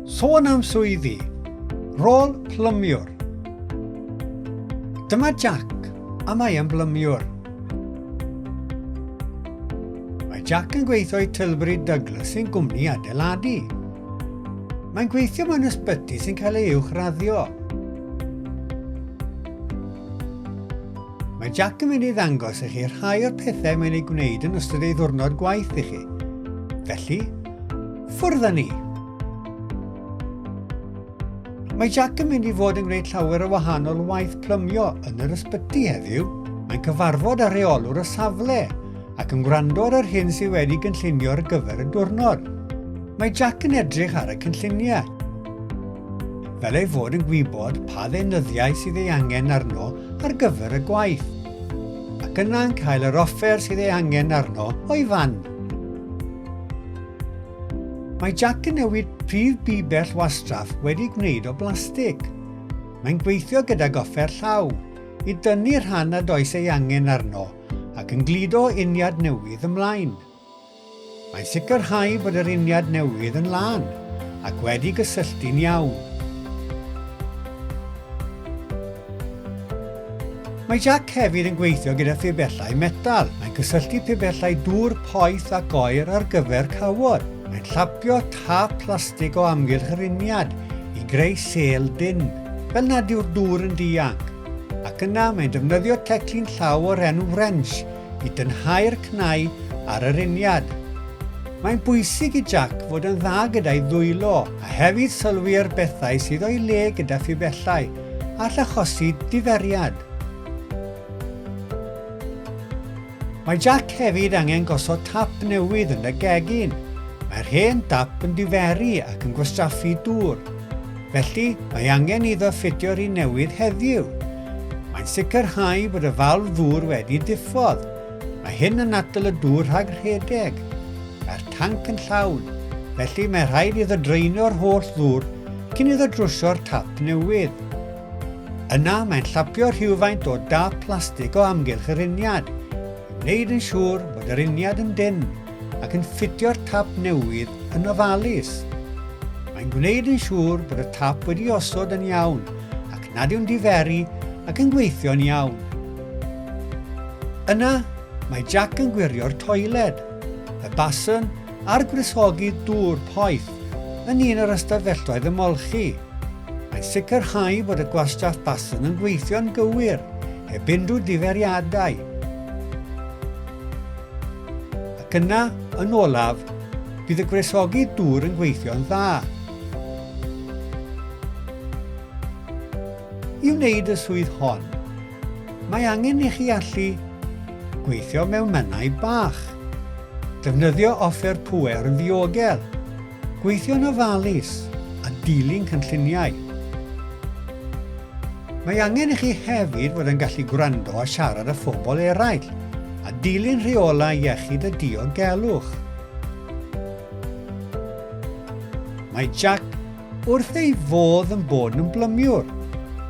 Sôn am swyddi, rôl plymiwr. Dyma Jack, a mae yn blymiwr. Mae Jack yn gweithio i Tilbury Douglas sy'n gwmni adeiladu. Mae'n gweithio mewn ysbyty sy'n cael ei uwchraddio. Mae Jack yn mynd i ddangos i chi rhai o'r pethau mae'n ei gwneud yn ystod ei ddwrnod gwaith i chi. Felly, ffwrdd â ni! Mae Jack yn mynd i fod yn gwneud llawer o wahanol waith plymio yn yr ysbyty heddiw. Mae'n cyfarfod â rheolwr y safle ac yn gwrando ar yr hyn sydd wedi gynllunio ar gyfer y diwrnod. Mae Jack yn edrych ar y cynlluniau. fel ei fod yn gwybod pa ddeunyddiau sydd ei angen arno ar gyfer y gwaith, ac yna'n cael yr offer sydd ei angen arno o'i fan. Mae Jack yn newid prif bibell wastraff wedi gwneud o blastig. Mae'n gweithio gydag offer llaw i dynnu rhan nad oes ei angen arno ac yn gludo uniad newydd ymlaen. Mae'n sicrhau bod yr uniad newydd yn lân ac wedi gysylltu'n iawn. Mae Jac hefyd yn gweithio gyda phibellau metal. Mae'n cysylltu pibellau dŵr poeth ac oer ar gyfer cawod. Mae'n llapio tâp plastig o amgylch yr uniad i greu sêl dynn, fel nad yw'r dŵr yn dianc, ac yna mae'n defnyddio teclyn llaw o'r enw wrench i dynhau'r cnau ar yr uniad. Mae'n bwysig i Jac fod yn dda gyda'i ddwylo a hefyd sylwi ar bethau sydd o'i le gyda phibellau, all achosi diferiad. Mae Jac hefyd angen gosod tap newydd yn y gegin. Mae'r hen dap yn diferu ac yn gwastraffu dŵr. Felly, mae angen iddo ffitio'r un newydd heddiw. Mae'n sicrhau bod y falf ddŵr wedi diffodd. Mae hyn yn atal y dŵr rhag rhedeg. Mae'r tanc yn llawn, felly mae rhaid iddo draenio'r holl ddŵr cyn iddo drwsio'r tap newydd. Yna, mae'n llapio rhywfaint o dâp plastig o amgylch yr uniad, i wneud yn siŵr bod yr uniad yn dynn. ac yn ffitio'r tap newydd yn ofalus. Mae'n gwneud yn siŵr bod y tap wedi osod yn iawn ac nad yw'n diferu ac yn gweithio'n iawn. Yna, mae Jack yn gwirio'r toiled, y basen a'r gwresogi dŵr poeth yn un o'r ystafelloedd ymolchi. Mae'n sicrhau bod y gwastraff basen yn gweithio'n gywir, heb unrhyw ddiferiadau. Ac yna, yn olaf, bydd y gwresogi dŵr yn gweithio'n dda. I wneud y swydd hon, mae angen i chi allu gweithio mewn mannau bach, defnyddio offer pŵer yn ddiogel, Gweithio'n ofalus a dilyn cynlluniau. Mae angen i chi hefyd fod yn gallu gwrando a siarad â phobl eraill a dilyn rheolau iechyd a diogelwch. Mae Jack wrth ei fodd yn bod yn blymiwr,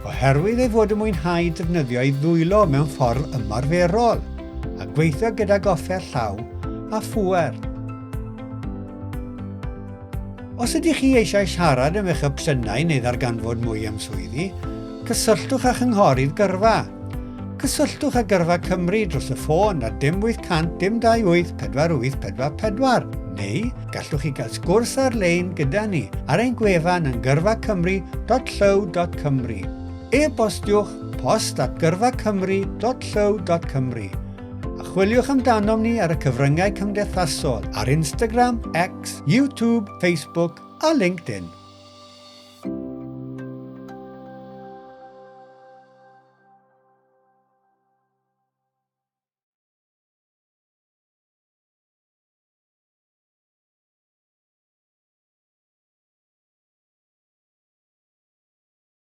oherwydd ei fod yn mwynhau defnyddio ei ddwylo mewn ffordd ymarferol a gweithio gydag offer llaw a phŵer. Os ydych chi eisiau siarad am eich opsiynau neu ddarganfod mwy am swyddi, cysylltwch â Chynghorydd Gyrfa. Cysylltwch â Gyrfa Cymru dros y ffôn ar dim 800 dim 28 4844 neu gallwch chi gael sgwrs ar-lein gyda ni ar ein gwefan yn gyrfacymru.llyw.cymru. E-bostiwch post at gyrfacymru.llyw.cymru a chwiliwch amdanom ni ar y cyfryngau cymdeithasol ar Instagram, X, YouTube, Facebook a LinkedIn.